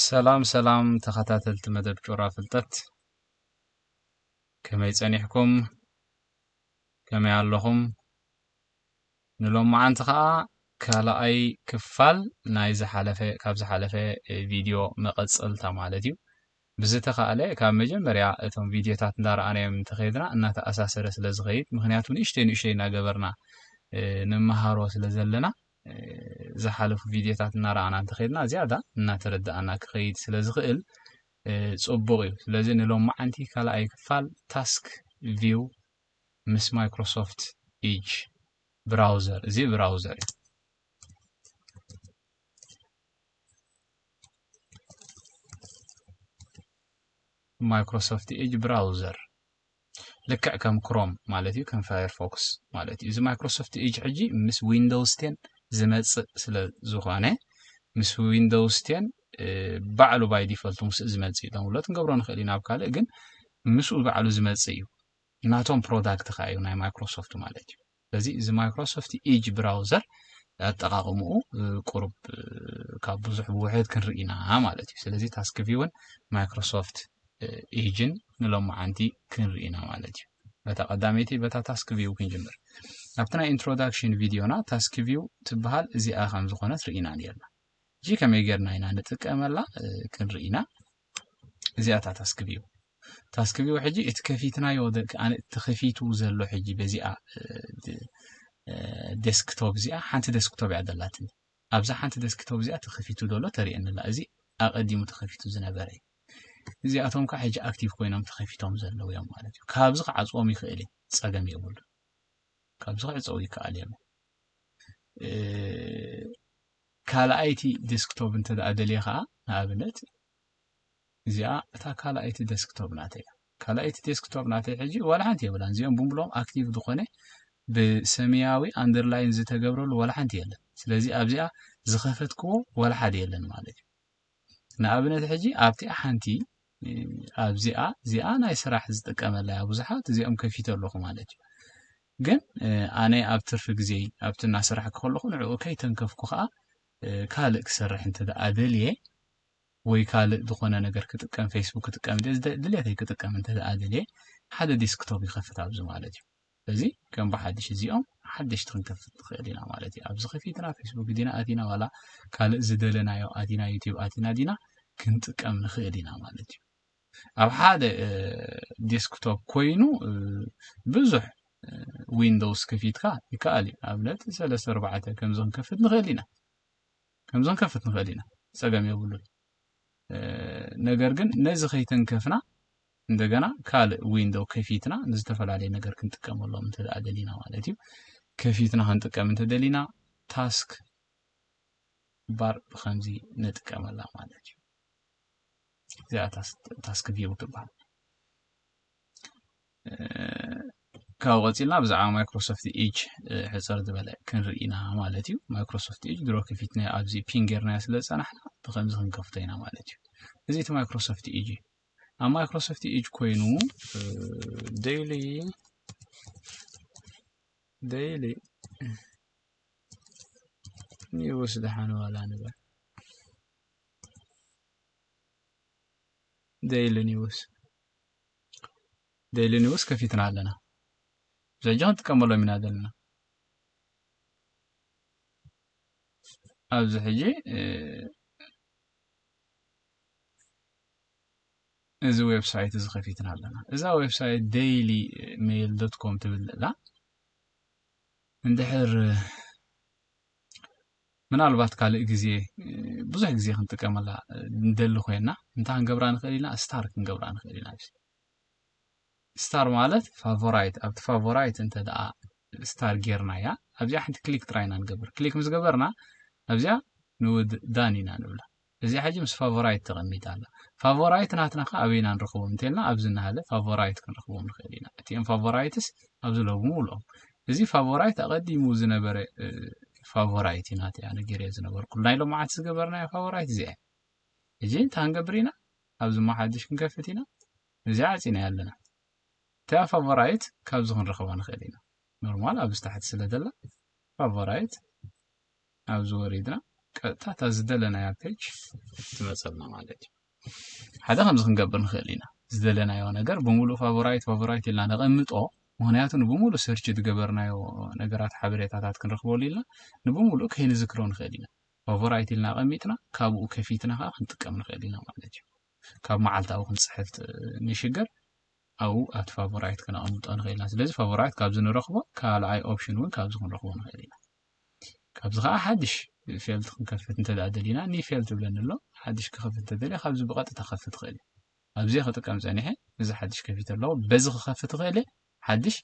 ሰላም ሰላም ተኸታተልቲ መደብ ጩራ ፍልጠት ከመይ ጸኒሕኩም ከመይ ኣለኹም ንሎማዓንቲ ኸኣ ካልኣይ ክፋል ናይ ዝሓለፈ ካብ ዝሓለፈ ቪድዮ መቐጸልታ ማለት እዩ ብዝተኻእለ ካብ መጀመርያ እቶም ቪድዮታት እንዳረኣናዮም እንተኸይድና እናተኣሳሰረ ስለ ዝኸይድ ምክንያቱ ንእሽተይ ንእሽተይ እናገበርና ንመሃሮ ስለ ዘለና ዝሓለፉ ቪድዮታት እናረኣና እንተኸድና ዝያዳ እናተረዳኣና ክኸይድ ስለ ዝኽእል ጽቡቕ እዩ። ስለዚ ንሎማዓንቲ ካልኣይ ክፋል ታስክ ቪው ምስ ማይክሮሶፍት ኢጅ ብራውዘር እዚ ብራውዘር እዩ። ማይክሮሶፍት ኢጅ ብራውዘር ልክዕ ከም ክሮም ማለት እዩ ከም ፋየርፎክስ ማለት እዩ እዚ ማይክሮሶፍት ኤጅ ሕጂ ምስ ዊንዶውስ ቴን ዝመጽእ ስለ ዝኾነ ምስ ዊንዶውስ ቴን ባዕሉ ባይ ዲፈልቱ ምስ ዝመጽእ እዩ ዳውንሎድ ክንገብሮ ንኽእል ኢና ኣብ ካልእ ግን ምስኡ ባዕሉ ዝመጽእ እዩ ናቶም ፕሮዳክት ከዓ እዩ ናይ ማይክሮሶፍት ማለት እዩ ስለዚ እዚ ማይክሮሶፍት ኢጅ ብራውዘር ኣጠቃቅምኡ ቁሩብ ካብ ብዙሕ ብውሕድ ክንርኢ ኢና ማለት እዩ ስለዚ ታስክ ቪውን ማይክሮሶፍት ኢጅን ንሎማዓንቲ ክንርኢ ኢና ማለት እዩ በታ ቀዳመይቲ በታ ታስክ ቪው ክንጅምር ኣብቲ ናይ ኢንትሮዳክሽን ቪድዮና ታስክ ቪው ትበሃል እዚኣ ከም ዝኾነት ርኢና ነርና እጂ ከመይ ጌርና ኢና ንጥቀመላ ክንርኢና እዚኣ እታ ታስክ ቪው ታስክቪው ሕጂ እቲ ከፊትናዮ ተኸፊቱ ዘሎ ሕጂ በዚኣ ዴስክቶፕ እዚኣ ሓንቲ ዴስክቶፕ እያ ዘላትኒ ኣብዛ ሓንቲ ዴስክቶፕ እዚኣ ተኸፊቱ ዘሎ ተርእየኒላ እዚ ኣቐዲሙ ተኸፊቱ ዝነበረ እዩ እዚኣቶም ከዓ ሕጂ ኣክቲቭ ኮይኖም ተኸፊቶም ዘለዉ እዮም ማለት እዩ ካብዚ ክዓፅዎም ይኽእል እዩ ፀገም የብሉ ካብዚ ክዕፀው ይከኣል እዮም ካልኣይቲ ዴስክቶፕ እንተደኣ ደልየ ከዓ ንኣብነት እዚኣ እታ ካልኣይቲ ዴስክቶፕ ናተይ እያ ካልኣይቲ ዴስክቶፕ ናተይ ሕጂ ዋላ ሓንቲ የብላን እዚኦም ብምሎም ኣክቲቭ ዝኾነ ብሰማያዊ ኣንደርላይን ዝተገብረሉ ዋላ ሓንቲ የለን ስለዚ ኣብዚኣ ዝኸፈትክዎ ዋላ ሓደ የለን ማለት እዩ ንኣብነት ሕጂ ኣብቲ ሓንቲ ኣብዚኣ እዚኣ ናይ ስራሕ ዝጥቀመላ እያ ብዙሓት እዚኦም ከፊተ ኣለኹ ማለት እዩ ግን ኣነ ኣብ ትርፊ ግዜ ኣብቲ እናሰራሕኩ ከለኹ ንዕኡ ከይተንከፍኩ ከዓ ካልእ ክሰርሕ እንተ ደኣ ደልየ ወይ ካልእ ዝኾነ ነገር ክጥቀም ፌስቡክ ክጥቀም ይደሊ ድሌተይ ክጥቀም እንተ ደኣ ደልየ ሓደ ዲስክቶፕ ይኸፍት ኣብዚ ማለት እዩ እዚ ከም ብሓድሽ እዚኦም ሓደሽቲ ክንከፍት ንኽእል ኢና ማለት እዩ ኣብዚ ከፊትና ፌስቡክ ዲና ኣቲና ዋላ ካልእ ዝደለናዮ ኣቲና ዩቲብ ኣቲና ዲና ክንጥቀም ንኽእል ኢና ማለት እዩ ኣብ ሓደ ዴስክቶፕ ኮይኑ ብዙሕ ዊንዶውስ ከፊትካ ይከኣል እዩ ኣብነት ሰለስተ ኣርባዕተ ከምዚ ክንከፍት ንኽእል ኢና ከምዚ ክንከፍት ንኽእል ኢና ጸገም የብሉን ነገር ግን ነዚ ከይተንከፍና እንደገና ካልእ ዊንዶው ከፊትና ንዝተፈላለየ ነገር ክንጥቀመሎም እንተ ደሊና ማለት እዩ ከፊትና ክንጥቀም እንተ ደሊና ታስክ ባር ብከምዚ ንጥቀመላ ማለት እዩ እዚኣ ታስክ ቪው ትበሃል ካብኡ ቀፂልና ብዛዕባ ማይክሮሶፍት ኤጅ ሕፅር ዝበለ ክንርኢ ኢና ማለት እዩ ማይክሮሶፍት ኤጅ ድሮ ከፊትናዮ ኣብዚ ፒን ጌርናዮ ስለ ዝፀናሕና ብከምዚ ክንከፍቶ ኢና ማለት እዩ እዚ እቲ ማይክሮሶፍት ኤጅ እዩ ኣብ ማይክሮሶፍት ኤጅ ኮይኑ ደይሊ ደይሊ ኒውስ ደሓን ዋላ ንበል ደይሊ ኒውስ ዴይሊ ኒውስ ከፊትና ኣለና ብዘጂ ክንጥቀመሎም ኢና ዘለና ኣብዚ ሕጂ እዚ ዌብሳይት እዚ ከፊትና ኣለና እዛ ዌብሳይት ዴይሊ ሜይል ዶት ኮም ትብል ዘላ እንድሕር ምናልባት ካልእ ግዜ ብዙሕ ግዜ ክንጥቀመላ ንደሊ ኮይና እንታይ ክንገብራ ንኽእል ኢና ስታር ክንገብራ ንኽእል ኢና ስታር ማለት ፋቮራይት ኣብቲ ፋቮራይት እንተ ደኣ ስታር ጌርናያ ኣብዚኣ ሓንቲ ክሊክ ጥራይ ኢና ንገብር ክሊክ ምስ ገበርና ኣብዚኣ ንውድ ዳን ኢና ንብላ እዚኣ ሕጂ ምስ ፋቮራይት ተቐሚጣ ኣላ። ፋቮራይት ናትና ከ ኣበይ ኢና ንረኽቦም እንተልና ኣብዚ እንሃለ ፋቮራይት ክንረኽቦም ንኽእል ኢና። እቲኦም ፋቮራይትስ ኣብዚ ሎግሙ ኣለዉ። እዚ ፋቮራይት ኣቐዲሙ ዝነበረ ፋቮራይት እዩ ናተይ ኣነ ገይረዮ ዝነበርኩሉ ናይ ሎምዓንቲ ዝገበርናዮ ፋቮራይት እዚኣ እያ። ሕጂ እንታይ ክንገብር ኢና ኣብዚ እሞ ሓድሽ ክንከፍት ኢና እዚኣ ኣዕጺናያ ኣለና። እቲኣ ፋቮራይት ካብዚ ክንረኽባ ንኽእል ኢና። ኖርማል ኣብዚ ታሕቲ ስለ ዘላ ፋቮራይት ኣብዚ ወሪድና ቀጥታ እታ ዝደለናያ ፔጅ ትመፀልና ማለት እዩ ሓደ ከምዚ ክንገብር ንኽእል ኢና ዝደለናዮ ነገር ብምሉእ ፋቮራይት ፋቮራይት ኢልና ነቐምጦ ምክንያቱ ንብምሉእ ሰርች ዝገበርናዮ ነገራት ሓበሬታታት ክንረክበሉ ኢልና ንብምሉእ ከይንዝክሮ ንኽእል ኢና ፋቮራይት ኢልና ኣቐሚጥና ካብኡ ከፊትና ከዓ ክንጥቀም ንኽእል ኢና ማለት እዩ ካብ መዓልታዊ ክንፅሕፍ ንሽገር ኣብኡ ኣብቲ ፋቮራይት ክነቐምጦ ንኽእል ኢና ስለዚ ፋቮራይት ካብዚ ንረኽቦ ካልኣይ ኦፕሽን እውን ካብዚ ክንረኽቦ ንኽእል ኢና ካብዚ ከዓ ሓድሽ ፌልት ክንከፍት እንተ ደሊና ኒ ፌልት ይብለኒ ኣሎ ሓድሽ ክኸፍት እንተ ደልየ ካብዚ ብቐጥታ ክኸፍት እኽእል እየ ኣብዚ ክጥቀም ፀኒሐ እዚ ሓድሽ ከፊተ ኣለኹ በዚ ክኸፍት እኽእል እየ ሓድሽ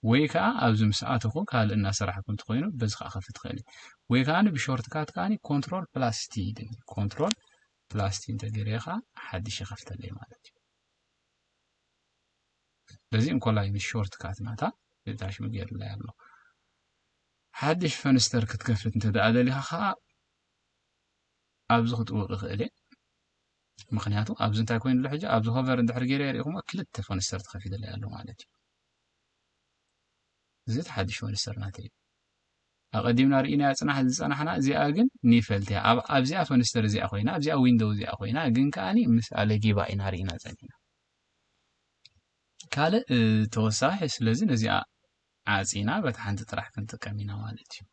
ወይ ከዓ ኣብዚ ምስ ኣተኹ ካልእ እናሰራሕኩ እንተኮይኑ በዚ ከዓ ከፍት እኽእል እየ ወይ ከዓ ብሾርት ካት ከዓ ኮንትሮል ፕላስ ቲ ይደኒ ኮንትሮል ፕላስ ቲ እንተገይረ ከዓ ሓድሽ ይኸፍተለይ ማለት እዩ በዚ እንኮላይ ምስ ሾርት ካት ናታ ዳሽሙ ገይሩላይ ኣሎ ሓድሽ ፈንስተር ክትከፍት እንተ ደኣ ደሊኻ ከዓ ኣብዚ ክጥውቅ ይኽእል እየ ምክንያቱ ኣብዚ እንታይ ኮይኑ ኣሎ ሕጂ ኣብዚ ሆቨር እንድሕር ገይረ የሪእኹሞ ክልተ ፈንስተር ተኸፊተለይ ኣሎ ማለት እዩ እዚ እቲ ሓድሽ ፈንስተር ናተይ እዩ ኣቐዲምና ርኢናያ ፅናሕ ዝፀናሕና እዚኣ ግን ኒፈልትያ ኣብዚኣ ፈንስተር እዚኣ ኮይና ኣብዚኣ ዊንዶው እዚኣ ኮይና ግን ከዓኒ ምስ ኣለጊባ ኢና ርኢና ፀኒሕና ካልእ ተወሳኺ ስለዚ ነዚኣ ዓጺና በታ ሓንቲ ጥራሕ ክንጥቀም ኢና ማለት እዩ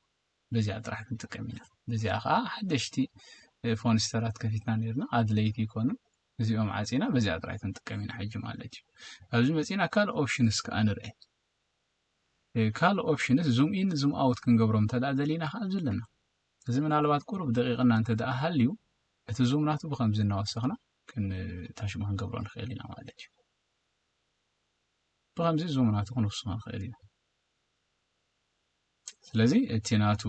በዚኣ ጥራሕ ክንጥቀም ኢና በዚኣ ከዓ ሓደሽቲ ፎንስተራት ከፊትና ነርና ኣድለይቲ ይኮኑ እዚኦም ዓጺና በዚኣ ጥራሕ ክንጥቀም ኢና ሕጂ ማለት እዩ ኣብዚ መጺና ካልእ ኦፕሽንስ ከዓ ንርአ ካልእ ኦፕሽንስ ዙም ኢን ዙም ኣውት ክንገብሮም እንተደኣ ደሊና ከዓ ኣብዚ ኣለና እዚ ምናልባት ቁሩብ ደቂቕና እንተ ደኣ ሃልዩ እቲ ዙም ናቱ ብከምዚ እናወሰኽና ክንታሽሙ ክንገብሮ ንኽእል ኢና ማለት እዩ ብከምዚ ዙም ናቱ ክንውስኾ ንኽእል ኢና ስለዚ እቲ ናቱ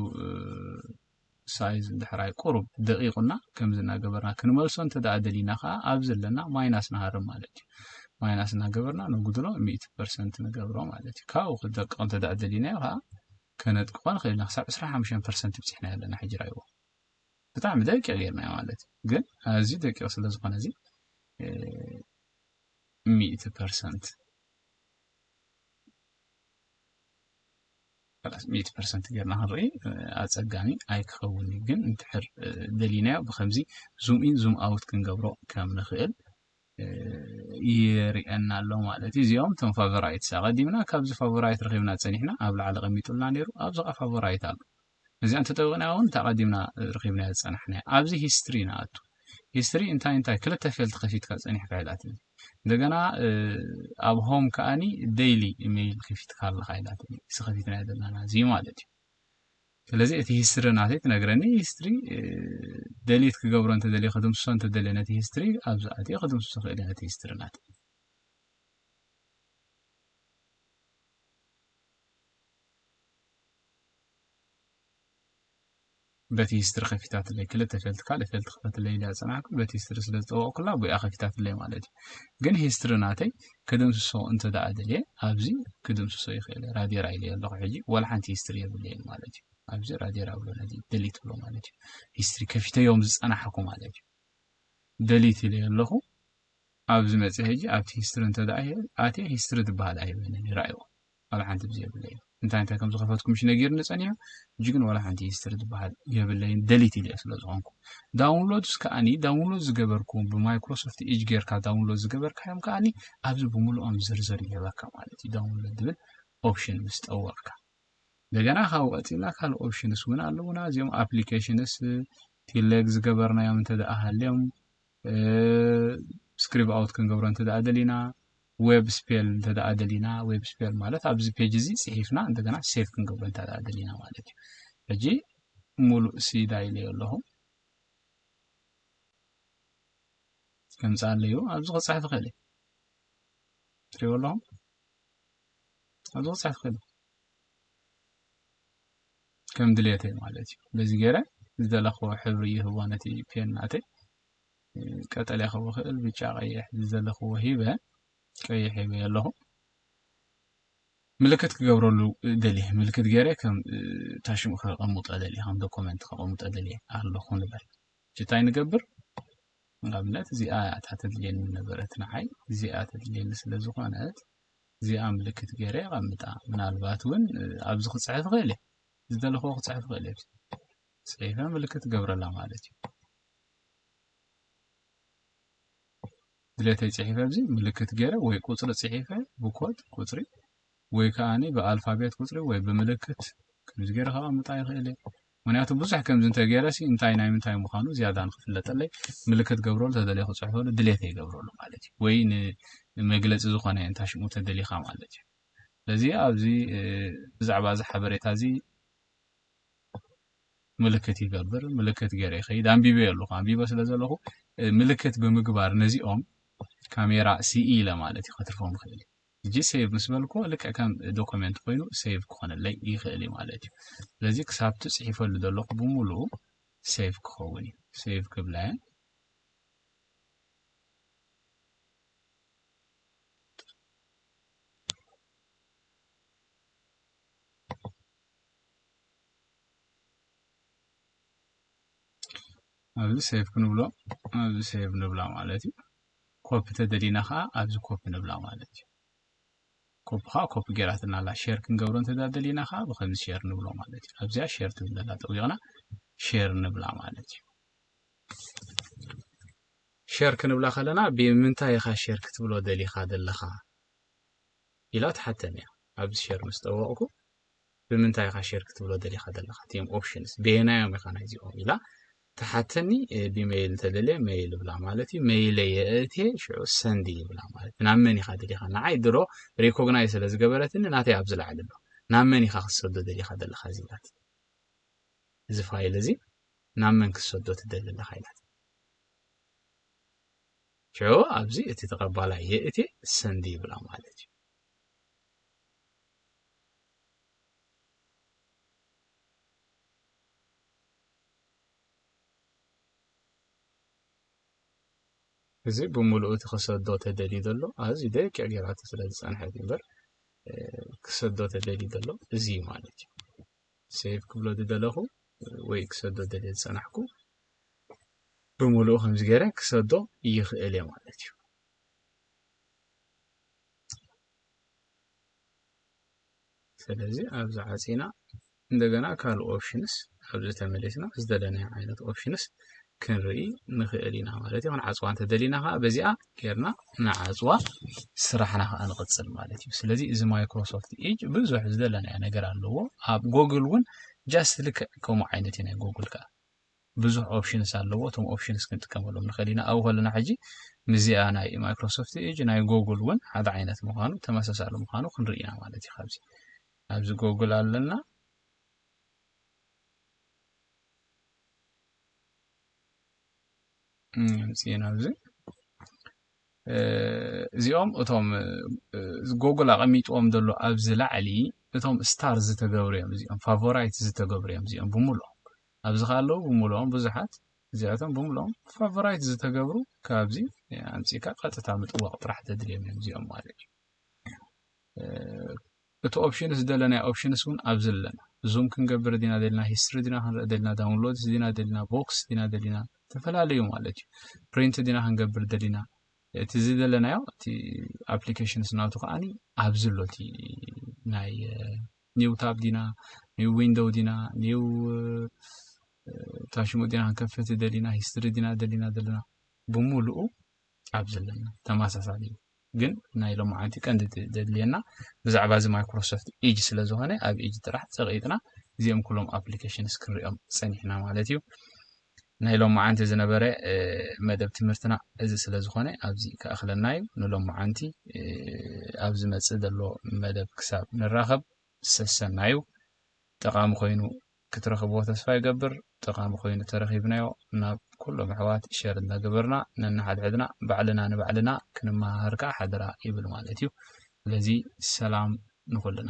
ሳይዝ ድሕራይ ቁሩብ ደቂቑና ከምዚ እናገበርና ክንመልሶ እንተ ደኣ ደሊና ከዓ ኣብ ዘለና ማይናስ ንሃርም ማለት እዩ ማይናስ እናገበርና ነጉድሎ ሚእቲ ፐርሰንት ንገብሮ ማለት እዩ ካብኡ ክደቅቕ እንተ ደኣ ደሊናዮ ከዓ ከነጥቅቆ ንክእል ኢና ክሳብ ዕስራን ሓሙሽተን ፐርሰንት ብጺሕናዮ ኣለና ሕጂ ራይዎ ብጣዕሚ ደቂቅ ጌርናዮ ማለት እዩ ግን ኣዝዩ ደቂቅ ስለ ዝኮነ እዚ ሚእቲ ፐርሰንት ሚእቲ ፐርሰንት ጌርና ክንርኢ ኣጸጋሚ ኣይክኸውን እዩ ግን እንድሕር ደሊናዮ ብከምዚ ዙም ኢን ዙም ኣውት ክንገብሮ ከም ንክእል ይርኤና ኣሎ ማለት እዩ እዚኦም ቶም ፋቨራይትስ ኣቀዲምና ካብዚ ፋቨራይት ረኪብና ጸኒሕና ኣብ ላዕሊ ቀሚጡልና ነይሩ ኣብዚ ኸዓ ፋቨራይት ኣሎ እዚኣ እንተጠዊቅና እውን እታ ቀዲምና ረኪብና ዝጸናሕና ኣብዚ ሂስትሪ ንኣቱ ሂስትሪ እንታይ እንታይ ክልተ ፌልት ከፊትካ ጸኒሕካ ኢላትኒ እንደገና ኣብ ሆም ከዓኒ ደይሊ ኢሜይል ከፊትካ ኣለካ ኢላትኒ እዚ ከፊትና ዘለና እዚ ማለት እዩ ስለዚ እቲ ሂስትሪ ናተይ ትነግረኒ ሂስትሪ ደሊት ክገብሮ እንተደልየ ክድምስሶ እንተደልየ ነቲ ሂስትሪ ኣብዚ ኣትየ ክድምስሶ ክእል ነቲ ሂስትሪ ናተይ በቲ ሂስትሪ ከፊታትለይ ክልተ ፈልቲ ካልእ ፈልቲ ክፈትለይ ኢላ ዝፀናሕኩ በቲ ሂስትሪ ስለ ዝጠወቕኩላ ብኣ ከፊታትለይ ማለት እዩ ግን ሂስትሪ ናተይ ክድምስሶ እንተ ደኣ ደልየ ኣብዚ ክድምስሶ ይክእል ራዴራ ኢለዮ ኣለኩ ሕጂ ዋላ ሓንቲ ሂስትሪ የብለይን ማለት እዩ ኣብዚ ራዴራ እብሎ ነዚ ደሊት እብሎ ማለት እዩ ሂስትሪ ከፊተዮም ዝጸናሕኩ ማለት እዩ ደሊት ኢለዮ ኣለኩ ኣብዚ መጽ ሕጂ ኣብቲ ሂስትሪ እንተ ደኣ ኣትየ ሂስትሪ ዝበሃል ኣይበንን ይራእዎ ዋላ ሓንቲ ብዘይ የብለይን እንታይ እንታይ ከም ዝኸፈትኩ ምሽ ነጊርኒ ጸኒሑ ሕጂ ግን ዋላ ሓንቲ ሂስትሪ ዝበሃል የብለይን ደሊት ኢለዮ ስለ ዝኾንኩ ዳውንሎድስ ከኣኒ ዳውንሎድ ዝገበርኩም ብማይክሮሶፍት ኤጅ ጌርካ ዳውንሎድ ዝገበርካዮም ከኣኒ ኣብዚ ብምልኦም ዝርዝር ይህበካ ማለት እዩ ዳውንሎድ ዝብል ኦፕሽን ምስ ጠወቕካ እንደገና ካብ ቀጺልና ካልእ ኦፕሽንስ እውን ኣለውና እዚኦም ኣፕሊኬሽንስ ቴሌግ ዝገበርናዮም እንተ ደኣ ሃልዮም ስክሪብ ኣውት ክንገብሮ እንተደኣ ደሊና ዌብ ስፔል እንተደኣ ደሊና ዌብ ስፔል ማለት ኣብዚ ፔጅ እዚ ፅሒፍና እንደገና ሴቭ ክንገብሮ እንተደኣ ደሊና ማለት እዩ ሕጂ ሙሉእ ሲዳ ኢለዮ ኣለኹ ከምፅኣለዩ ኣብዚ ክፅሕፍ ይኽእል እዩ ትሪእዎ ኣለኹም ኣብዚ ክፅሕፍ ይኽእል እዩ ከም ድሌተይ ማለት እዩ በዚ ገይረ ዝደለኽዎ ሕብሪ ይህቦ ነቲ ፔን ናተይ ቀጠልያ ክህቦ ክእል ብጫ ቀይሕ ዝደለኽዎ ሂበ ቀይሕ ሂበ ኣለኹ ምልክት ክገብረሉ ደልየ ምልክት ገይረ ከም ታሽሙ ከቐምጦ ደልየ ከም ዶኮመንት ከቐምጦ ደልየ ኣለኹ ንበል እንታይ ንገብር ንኣብነት እዚኣ እያ እታ ተድልየኒ ነበረት ንዓይ እዚኣ ተድልየኒ ስለ ዝኾነት እዚኣ ምልክት ገይረ የቐምጣ ምናልባት እውን ኣብዚ ክፅሕፍ ይኽእል እየ ዝደለኹዎ ክፅሕፍ ይኽእል እየ ፅሒፈ ምልክት ገብረላ ማለት እዩ ድሌተይ ፅሒፈ ኣብዚ ምልክት ገይረ ወይ ቁፅሪ ፅሒፈ ብኮድ ቁፅሪ ወይ ከዓኒ ብኣልፋቤት ቁፅሪ ወይ ብምልክት ከምዚ ገይረ ከቐምጣ ይኽእል እየ ምክንያቱ ብዙሕ ከምዚ እንተገይረሲ እንታይ ናይ ምንታይ ምዃኑ ዝያዳ ንክፍለጠለይ ምልክት ክገብረሉ ተደልየ ክፅሕፈሉ ድሌተይ ይገብረሉ ማለት እዩ ወይ ንመግለፂ ዝኾነ እንታይ ሽሙ ተደሊኻ ማለት እዩ ስለዚ ኣብዚ ብዛዕባ እዚ ሓበሬታ እዚ ምልክት ይገብር ምልክት ገይረ ይኸይድ ኣንቢበ ኣለኹ ኣንቢበ ስለ ዘለኹ ምልክት ብምግባር ነዚኦም ካሜራ ሲኢ ኢለ ማለት እዩ ከትርፎም ይኽእል ሕጂ ሴቭ ምስ በልክዎ ልክዕ ከም ዶኮሜንት ኮይኑ ሴቭ ክኾነለይ ይኽእል እዩ ማለት እዩ ስለዚ ክሳብቲ ጽሒፈሉ ዘለኹ ብምሉኡ ሴቭ ክኸውን እዩ ሴቭ ክብላየ ኣብዚ ሴቭ ክንብሎ ኣብዚ ሴቭ ንብላ ማለት እዩ ኮፒ ተደሊና ከዓ ኣብዚ ኮፒ ንብላ ማለት እዩ ኮፒ ከዓ ኮፒ ገይራትና ኣላ ሼር ክንገብሮ እንተደሊና ከዓ ብከምዚ ሼር ንብሎ ማለት እዩ ኣብዚኣ ሼር ትብል ዘላ ጠዊቕና ሼር ንብላ ማለት እዩ ሼር ክንብላ ከለና ብምንታይ ኢኻ ሼር ክትብሎ ደሊኻ ዘለኻ ኢላ ትሓተኒ እያ ኣብዚ ሼር ምስ ጠወቕኩ ብምንታይ ኢኻ ሼር ክትብሎ ደሊኻ ዘለኻ እቲም ኦፕሽንስ በየናዮም ኢኻ ናይዚኦም ኢላ ትሓተኒ ብመይል ተደልየ መይል ብላ ማለት እዩ መይለ የእትየ ሽዑ ሰንዲ ይብላ ማለት ናብ መን ኢኻ ደሊኻ ንዓይ ድሮ ሪኮግናይ ስለ ዝገበረትኒ ናተይ ኣብ ዝለዓሊ ኣሎ ናብ መን ኢኻ ክትሰዶ ደሊኻ ዘለኻ እዚ ኢላት እዚ ፋይል እዚ ናብ መን ክትሰዶ ትደሊ ኣለኻ ኢላት ሽዑ ኣብዚ እቲ ተቐባላይ የእትየ ሰንዲ ይብላ ማለት እዩ እዚ ብምሉኡ እቲ ክሰዶ ተደልዩ ዘሎ ኣዝዩ ደቂቕ ጌራቶ ስለ ዝጸንሐት እዩ እምበር ክሰዶ ተደልዩ ዘሎ እዚ እዩ ማለት እዩ ሴቭ ክብሎ ዝደለኹ ወይ ክሰዶ ደልየ ዝጸናሕኩ ብምሉኡ ከምዚ ገይረ ክሰዶ ይኽእል እየ ማለት እዩ ስለዚ ኣብዚ ዓፂና እንደገና ካልእ ኦፕሽንስ ኣብዚ ተመሊስና ዝተደለናዮ ዓይነት ኦፕሽንስ ክንርኢ ንኽእል ኢና ማለት እዩ ክንዓፅዋ እንተደሊና ከዓ በዚኣ ጌርና ንዓፅዋ ስራሕና ከዓ ንቕፅል ማለት እዩ ስለዚ እዚ ማይክሮሶፍት ኤጅ ብዙሕ ዝደለናዮ ነገር ኣለዎ ኣብ ጎግል እውን ጃስት ልክዕ ከምኡ ዓይነት እዩ ናይ ጎግል ከዓ ብዙሕ ኦፕሽንስ ኣለዎ እቶም ኦፕሽንስ ክንጥቀመሎም ንኽእል ኢና ኣብኡ ከለና ሕጂ ምስዚኣ ናይ ማይክሮሶፍት ኤጅ ናይ ጎግል እውን ሓደ ዓይነት ምዃኑ ተመሳሳሊ ምዃኑ ክንርኢ ኢና ማለት እዩ ካብዚ ኣብዚ ጎግል ኣለና ምፅና ኣብዚ እዚኦም እቶም ጎግል ኣቐሚጥዎም ዘሎ ኣብዚ ላዕሊ እቶም ስታር ዝተገብሩ እዮም እዚኦም ፋቮራይት ዝተገብሩ እዮም እዚኦም ብምሉኦም ኣብዚ ከኣ ኣለዉ ብምሉኦም ብዙሓት እዚኣቶም ብምሉኦም ፋቮራይት ዝተገብሩ ካብዚ ኣምጺእካ ቀጥታ ምጥዋቕ ጥራሕ ተድልዮም እዮም እዚኦም ማለት እዩ እቲ ኦፕሽንስ ደለናዮ ኦፕሽንስ እውን ኣብዚ ኣለና ዙም ክንገብር ዲና ደልና ሂስትሪ ዲና ክንርኢ ደልና ዳውንሎድስ ዲና ደልና ቦክስ ዲና ደሊና ዝተፈላለዩ ማለት እዩ ፕሪንት ዲና ክንገብር ደሊና እቲ እዚ ዘለናዮ እቲ ኣፕሊኬሽንስ ናቱ ከዓኒ ኣብዚ ኣሎ እቲ ናይ ኒው ታብ ዲና ኒው ዊንዶው ዲና ኒው እታ ሽሙ ዲና ክንከፍት ይደሊና ሂስትሪ ዲና ደሊና ዘለና ብሙሉኡ ኣብ ዘለና ተመሳሳሊ እዩ ግን ናይ ሎማዓንቲ ቀንዲ ደድልየና ብዛዕባ እዚ ማይክሮሶፍት ኢጅ ስለ ዝኾነ ኣብ ኢጅ ጥራሕ ፀቂጥና እዚኦም ኩሎም ኣፕሊኬሽንስ ክንሪኦም ፀኒሕና ማለት እዩ ናይ ሎምዓንቲ ዝነበረ መደብ ትምህርትና እዚ ስለ ዝኾነ ኣብዚ ክኣኽለና እዩ ንሎምዓንቲ ኣብ ዝመጽእ ዘሎ መደብ ክሳብ ንራኸብ ሰሰናዩ ጠቓሚ ኮይኑ ክትረኽብዎ ተስፋ ይገብር ጠቓሚ ኮይኑ ተረኺብናዮ ናብ ኩሎም ኣሕዋት ሸር እናገበርና ነንሓድሕድና ባዕልና ንባዕልና ክንመሃሃር ከዓ ሓደራ ይብል ማለት እዩ ስለዚ ሰላም ንኹልና